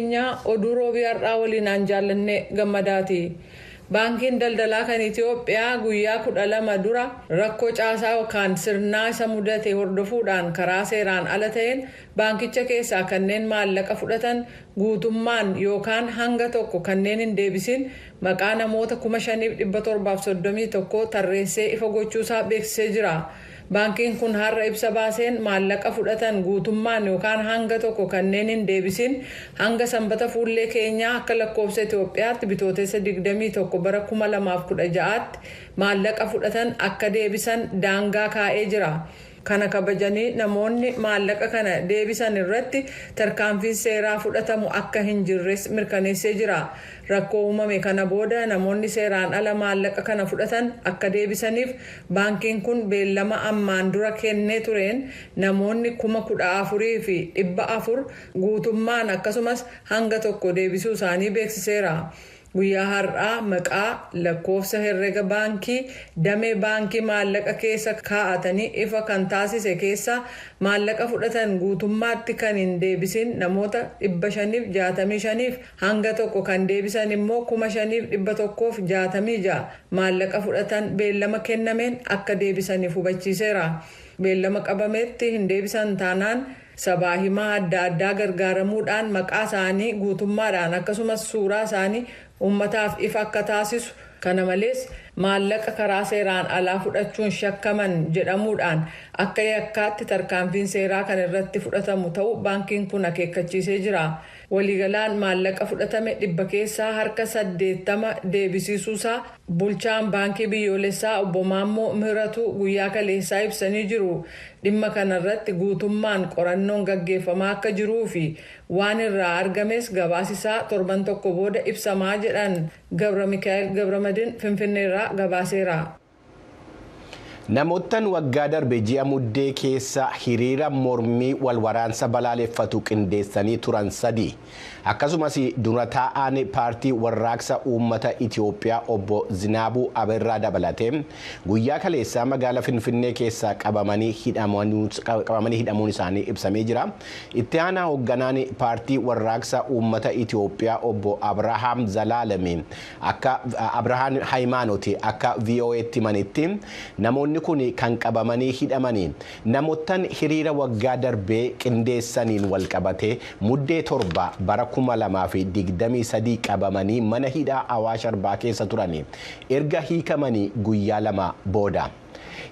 keenyaa oduu roobii har'aa waliin an jaallannee gammadaati. Baankiin daldalaa kan Itiyoophiyaa guyyaa 12 dura rakkoo caasaa yookaan sirnaa isa mudate hordofuudhaan karaa seeraan ala ta'een baankicha keessaa kanneen maallaqa fudhatan guutummaan yookaan hanga tokko kanneen hin deebisiin maqaa namoota 5,731 tarreessee ifa gochuusaa beeksisee jira. Baankiin kun har'a ibsa baaseen maallaqa fudhatan guutummaan yookaan hanga tokko kanneen hin deebisin hanga Sanbata fuullee keenyaa akka lakkoofsa Itoophiyaatti Bitootessa 21 bara 2016tti maallaqa fudhatan akka deebisan daangaa kaa'ee jira. Kana kabajanii namoonni maallaqa kana deebisan irratti tarkaanfiin seeraa fudhatamu akka hin jirres mirkaneessee jira. Rakkoo uumame kana booda namoonni seeraan ala maallaqa kana fudhatan akka deebisaniif Baankiin kun beellama ammaan dura kennee tureen namoonni kuma 14 fi 400 guutummaan akkasumas hanga tokko deebisuu isaanii beeksiseera. Guyyaa har'aa maqaa, lakkoofsa herrega baankii, damee baankii maallaqa keessa kaa'atanii ifa kan taasise keessaa maallaqa fudhatan guutummaatti kan hin deebisin namoota 565f hanga tokko kan deebisan immoo 5166 maallaqa fudhatan beellama kennameen akka deebisaniif hubachiiseera. Beellama qabametti hin deebisan taanaan sabaa himaa adda addaa gargaaramuudhaan maqaa isaanii guutummaadhaan akkasumas suuraa isaanii uummataaf ifa akka taasisu, kana malees maallaqa karaa seeraan alaa fudhachuun shakkaman jedhamuudhaan akka yakkaatti tarkaanfiin seeraa kan irratti fudhatamu ta'uu baankiin kun akeekkachiisee jira. Waliigalaan maallaqa fudhatame dhibba keessaa harka 80 deebisiisuusaa Bulchaan Baankii Biyyoolessaa Obbo Maammoo Mihiratuu guyyaa kaleessaa ibsanii jiru. Dhimma kanarratti guutummaan qorannoon gaggeeffamaa akka jiruufi waan irraa argames gabaasisaa torban tokko booda ibsamaa jedhan Gabramikaa'el Gabramadin Finfinneerraa gabaaseera. Namoottan waggaa darbe ji'a Muddee keessa hiriira mormii wal waraansa balaaleffatu qindeessanii turan sadii, akkasumas dura taa'aan Paartii Warraaqsa Uummata Itiyoophiyaa Obbo Zinaabuu Aberraa dabalatee guyyaa kaleessaa magaala Finfinnee keessaa qabamanii hidhamuun isaanii ibsamee jira. Itti aanaa hogganaan Paartii Warraaqsa Uummata Itiyoophiyaa Obbo Abrahaam Zalaalem Akka Abrahaan Hayimaanot akka VOA'tti himanitti, namoonni kun kan qabamanii hidhamani namottan hiriira waggaa darbee qindeessaniin walqabatee Muddee 7 bara 2023 qabamanii mana hidhaa Awaash Arbaa keessa turani erga hiikamanii guyyaa lama booda.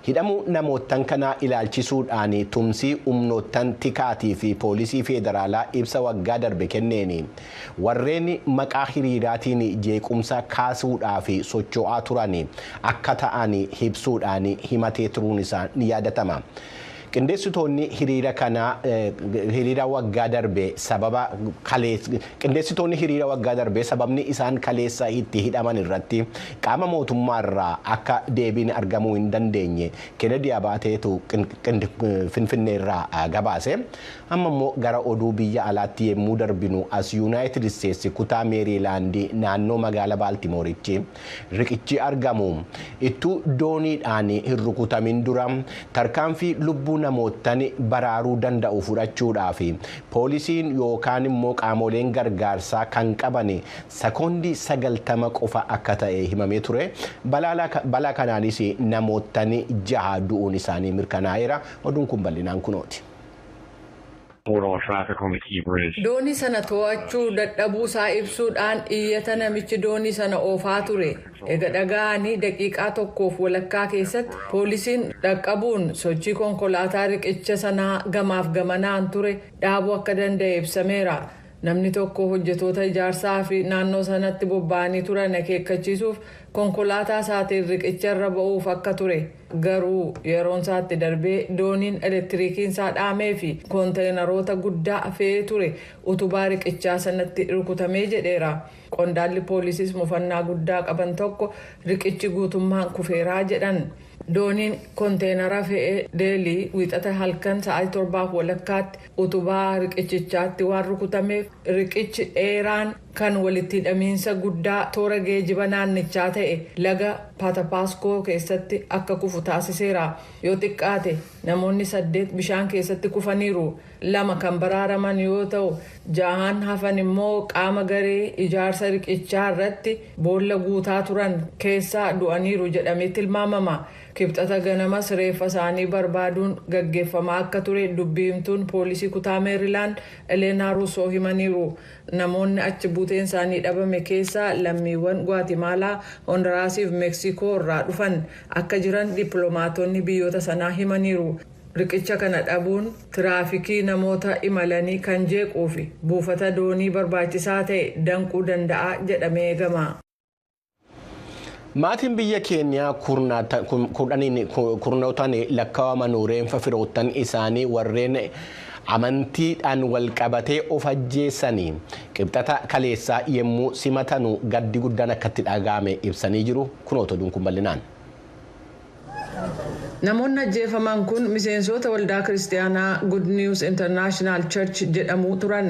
Hidhamuu namoottan kanaa ilaalchisuudhaan tumsii humnoottan tikaatii fi poolisii feedaraalaa ibsa waggaa darbe kenneen warreen maqaa hiriiraatiin jeequmsa kaasuudhaaf socho'aa turan akka ta'an ibsuudhaan himatee turuun isaa ni yaadatama. Qindeessitoonni hiriira kanaa hiriira waggaa darbe sababa kalees qindeessitoonni hiriira waggaa darbee sababni isaan kaleessa itti hidhaman irratti qaama mootummaa irraa akka deebiin argamuu hin dandeenye Kennedy Abaateetu Finfinnee irraa gabaase. Amma immoo gara oduu biyya alaatti yemmuu darbinu as Yuunaayitid Isteetsi kutaa Meeriilaandii naannoo magaala Baaltimooritti Riqichi argamu ittuu dooniidhaan hin rukutamin dura tarkaanfii lubbuu namoottan baraaruu danda'u fudhachuudhaaf poolisiin yookaan immoo qaamooleen gargaarsaa kan qaban sekoondii 90 qofa akka ta'e himamee ture. Balaa kanaanis namoottan jaha du'uun isaanii mirkanaa'eera. Oduun kun bal'inaan kunooti. Border Traffic on the Key Bridge. Doonii sana to'achuu dadhabuu isaa ibsuu dhaan iyyata namichi doonii sana oofaa ture ega dhaga'anii daqiiqaa tokkoof walakkaa keessatti poolisiin dhaqqabuun sochii konkolaataa riqicha sanaa gamaaf gamanaan ture dhaabuu akka danda'e ibsameera. Namni tokko hojjetoota ijaarsaa fi naannoo sanatti bobba'anii turan akeekkachiisuuf konkolaataa isaatiin riqicha irra ba'uuf akka ture. Garuu yeroon isaa itti darbee dooniin elektiriikiin isaa dhaamee fi konteenaroota guddaa fe'ee ture utubaa riqichaa sanatti rukutamee jedheera. Qondaalli poolisiis mufannaa guddaa qaban tokko riqichi guutummaan kufeeraa jedhan. Dooniin konteenara fe'e Deelii Wiixata halkan sa'aatii torbaaf walakkaatti utubaa riqichichaatti waan rukutameef riqichi dheeraan Kan walitti hidhamiinsa guddaa toora geejiba naannichaa ta'e laga Patapasco keessatti akka kufu taasiseera. Yoo xiqqaate namoonni saddeet bishaan keessatti kufaniiru. Lama kan baraaraman yoo ta'u, jahaan hafan immoo qaama garee ijaarsa riqichaa irratti boolla guutaa turan keessaa du'aniiru jedhamee tilmaamama. Kibxata ganamas reeffa isaanii barbaaduun gaggeeffamaa akka ture dubbi himtuun poolisii kutaa Meerilaand Elena Russo himaniiru. Namoonni achi buuteen isaanii dhabame keessa lammiiwwan Guatemaalaa, Hondaraasii fi Meksiikoo irraa dhufan akka jiran dippiloomaatonni biyyoota sanaa himaniiru. Riqicha kana dhabuun tiraafikii namoota imalanii kan jeequu fi buufata doonii barbaachisaa ta'e danquu danda'a jedhamee eegama. Maatiin biyya Keeniyaa kurnootaan lakkaa'aman reenfa firoottan isaanii warreen amantiidhaan wal qabatee of ajjeessanii qibxata kaleessaa yommuu simatanu gaddi guddaan akka itti dhaga'ame ibsanii jiru. Kunoota oduun kun bal'inaan. Namoonni ajjeefaman kun miseensoota waldaa Kiristiyaanaa Good News International Church jedhamuu turan.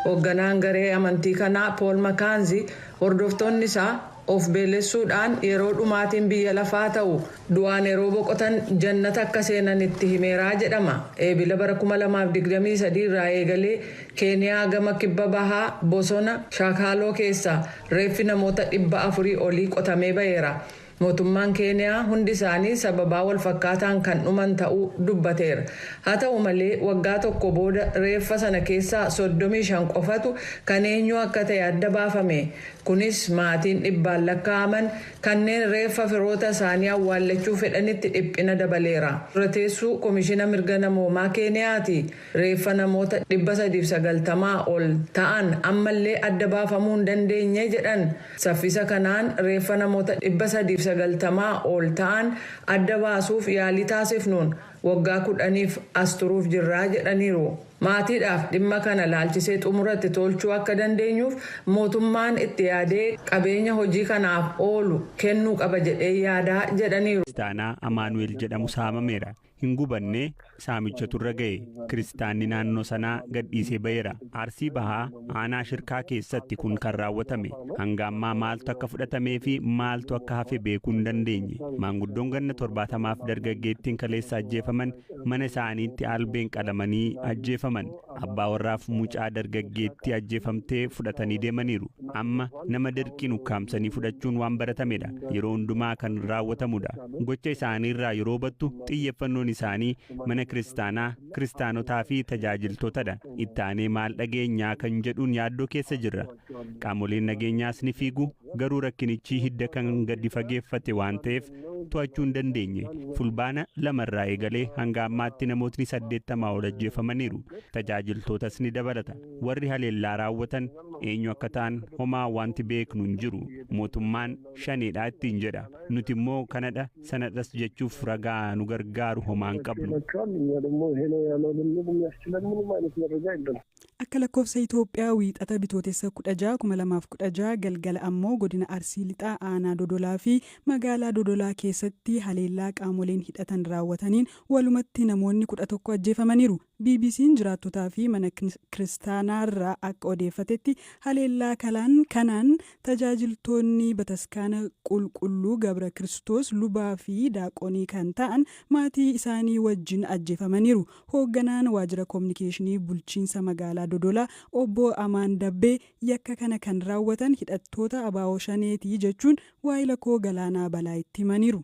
Hoogganaan garee amantii kanaa Pool Makaanzi hordoftoonni isaa of beelessuu dhaan yeroo dhumaatiin biyya lafaa ta'u du'aan yeroo boqotan jannata akka seenan itti himeera jedhama. Eebila bara 2023 irraa eegalee Keeniyaa gama kibba bahaa bosona Shakaaloo keessaa reeffi namoota 400 olii qotamee ba'eera. Mootummaan Keeniyaa hundi isaanii sababaa walfakkaataan kan dhuman ta'uu dubbateera. Haa ta'u malee waggaa tokko booda reeffa sana keessaa soddomii shan qofatu kan eenyuu akka ta'e adda baafame. Kunis maatiin dhibbaan lakkaa'aman kanneen reeffa firoota isaanii awwaallachuu fedhanitti dhiphina dabaleera. Dura teessuu Komishina Mirga Namoomaa Keeniyaati. Reeffa namoota 390 ol ta'an ammallee adda baafamuu hin dandeenye jedhan. Saffisa kanaan reeffa namoota 390 ol ta'an adda baasuuf yaalii taasifnuun waggaa 10f as turuuf jirra jedhaniiru. Maatiidhaaf dhimma kana ilaalchisee xumura itti tolchuu akka dandeenyuuf mootummaan itti yaadee qabeenya hojii kanaaf oolu kennuu qaba jedheen yaada jedhaniiru. Kiristaanaa Amaanu'eel jedhamu saamameera. hin gubannee saamichatu irra ga'e. Kiristaanni naannoo sanaa gadhiisee ba'eera. Arsii Bahaa aanaa Shirkaa keessatti kun kan raawwatame. Hanga ammaa maaltu akka fudhatamee fi maaltu akka hafe beekuu hin dandeenye. Maanguddoon ganna 70 fi dargaggeettiin kaleessa ajjeefaman mana isaaniitti albeen qalamanii ajjeefaman. Abbaa warraaf mucaa dargaggeettii ajjeefamtee fudhatanii deemaniiru. Amma nama dirqiin ukkaamsanii fudhachuun waan baratamedha. Yeroo hundumaa kan raawwatamudha. Gocha isaaniirraa yeroo hubattu xiyyeffannoon isaanii mana kiristaanaa, kiristaanotaa fi tajaajiltootadha. Itti aanee maal dhageenyaa kan jedhuun yaaddoo keessa jirra. Qaamoleen nageenyaas ni fiigu, garuu rakkinichi hidda kan gadi fageeffate waan ta'eef to'achuu hin dandeenye. Fulbaana 2 irraa eegalee hanga ammaatti namootni 80 ol ajjeefamaniiru. Tajaajiltootas ni dabalata. Warri haleellaa raawwatan eenyu akka ta'an homaa wanti beeknu hin jiru. Mootummaan Shaneedha ittiin jedha. Nuti immoo kanadha, sanadhas jechuuf ragaa nu gargaaru homaa hin qabnu. Akka lakkoofsa Itoophiyaa Wiixata Bitootessa 16, 2016 galgala ammoo godina Arsii Lixaa aanaa Dodolaa fi magaalaa Dodolaa keessatti haleellaa qaamoleen hidhatan raawwataniin walumatti namoonni 11 ajjeefamaniiru. BBC'n jiraattotaa fi mana kiristaanaarraa akka odeeffatetti haleellaa kanaan tajaajiltoonni bataskaana Qulqulluu Gabra Kiristoos lubaa fi daaqonii kan ta'an maatii isaanii wajjin ajjeefamaniiru. Hoogganaan Waajjira Kominikeeshinii Bulchiinsa Magaalaa Dodolaa Obbo Amaan Dabbee yakka kana kan raawwatan hidhattoota abo Shaneeti jechuun waahila koo Galaanaa Balaayitti himaniiru.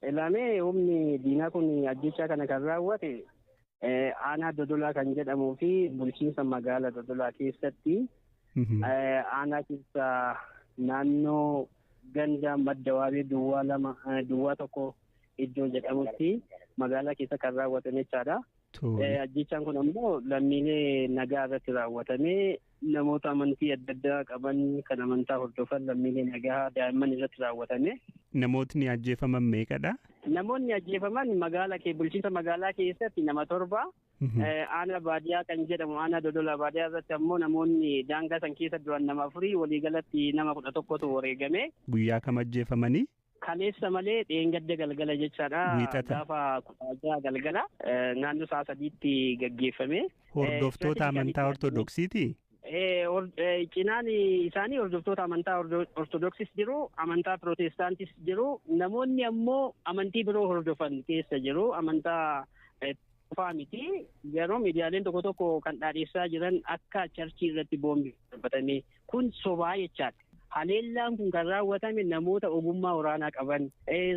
Elaamee humni diinaa kun ajjeechaa kana kan raawwate aanaa Dodolaa kan jedhamuu fi bulchiinsa magaala Dodolaa keessatti aanaa keessa naannoo ganda madda waabee duwwaa lama duwwaa tokko iddoo jedhamutti magaalaa keessa kan raawwatame jechaadha. Ajjechaan kun ammoo lammiilee nagaa irratti raawwatamee namoota amantii adda addaa qaban kan amantaa hordofan lammiilee nagaa daa'imman irratti raawwatame. Namootni ajjeefaman meeqadha? Namoonni ajjeefaman magaalaa kee bulchiinsa magaalaa keessatti nama torba. Aanaa baadiyaa kan jedhamu aanaa dodola baadiyaa irratti ammoo namoonni daangaa san keessa du'an nama afurii waliigalatti nama kudha tokkotu wareegame. Guyyaa kam ajjeefamanii? Kaleessa malee dheengadda galgala jechaadha. Wiixata. Gaafa kudha jaha galgala eh, naannoo sa'a sadiitti gaggeeffame. Hordoftoota amantaa Ortodoksiiti? Eh, or- eh, Cinaan isaanii hordoftoota amantaa Ordo- Ortodoksis jiru, amantaa Pirootestaantis jiru, namoonni ammoo amantii biroo hordofan keessa jiru, amantaa eh, qofaa miti garuu miidiyaaleen tokko tokko kan dhaadheessaa jiran akka charchii irratti boombii darbatame kun sobaa jechaadha. Haleellaan kun kan raawwatame namoota ogummaa waraanaa qaban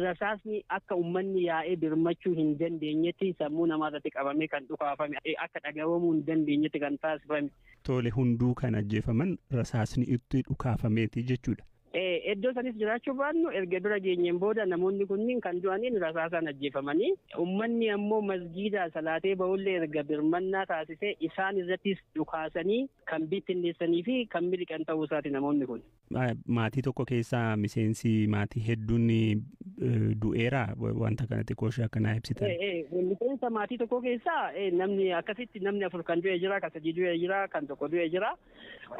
rasaasni akka uummanni yaa'ee birmachuu hin dandeenyetti sammuu namaa irratti qabamee kan dhukaafame akka dhaga'amuu hin dandeenyetti kan taasifame. Tole hunduu kan ajjeefaman rasaasni itti dhukaafameeti jechuudha. Iddoo sanis jiraachuu baannu erga bira geenyeen booda namoonni kunniin kan du'aniin rasaasaan ajjeefamanii ummanni ammoo masgiidaa salaatee ba'ullee erga birmannaa taasisee isaan irrattis dhukaasanii kan bittinneessanii fi kan miliqan ta'uu isaati namoonni kun. Maatii tokko keessa miseensi maatii hedduun du'eera wanta kana xiqqoo ishee akka naa ibsitan. Miseensa maatii tokko keessa namni akkasitti namni afur kan du'e jira kan sadii du'e jira kan tokko du'e jira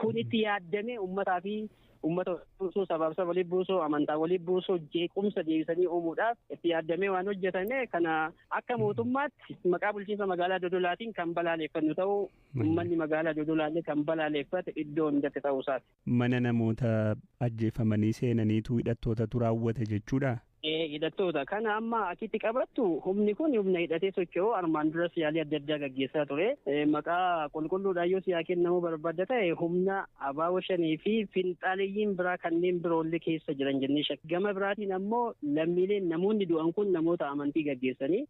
kun itti yaaddamee ummataa fi Uummata walitti buusuu, sabaaf saba walitti buusuu, amantaa walitti buusuu, jeequmsa deebisanii uumuudhaaf itti yaaddamee waan hojjetame kana akka mootummaatti maqaa bulchiinsa magaalaa Dodolaatiin kan balaaleeffannu ta'uu uummanni magaalaa Dodolaallee kan balaaleeffate iddoo hundatti ta'uu isaati. Mana namoota ajjeefamanii seenaniitu hidhattootatu raawwate jechuudhaa? Hidhattoota kana amma achitti qabattu humni kun humna hidhatee socho'u armaan duras yaalii adda addaa gaggeessaa ture. Maqaa qulqulluudhaan yoo siyaa kennamuu barbaadda ta'e humna abaaboo shanii fi finxaaleyyiin biraa kanneen biroollee keessa jiran jennee shakka. Gama biraatiin ammoo lammiileen namoonni du'an kun namoota amantii gaggeessanii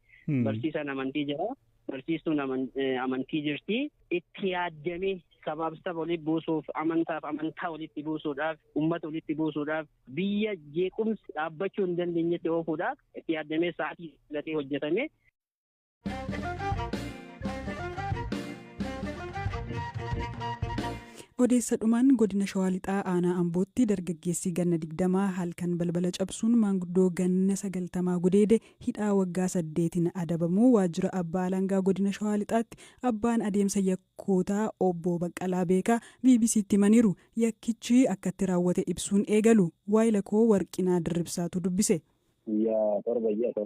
barsiisaan amantii jira. Barsiistuun amantii jirti. Itti yaaddamee sabaaf saba walitti buusuuf, amantaaf amantaa walitti buusuudhaaf, uummata walitti buusuudhaaf, biyya jeequmsi dhaabbachuu hin dandeenyetti oofuudhaaf itti yaaddamee sa'aatii filatee hojjetame. Odeessa dhumaan godina Shawaa Lixaa aanaa Ambootti dargaggeessi ganna digdamaa halkan balbala cabsuun maanguddoo ganna sagaltamaa gudeede hidhaa waggaa saddeetiin adabamuu Waajjira Abbaa Alangaa Godina Shawaa Lixaatti Abbaan Adeemsa Yakkootaa Obbo Baqqalaa Beekaa BBC'tti himaniiru. Yakkichi akkatti raawwate ibsuun eegalu. Waayila koo Warqinaa Dirribsaatu dubbise. Guyyaa torba ji'a 7.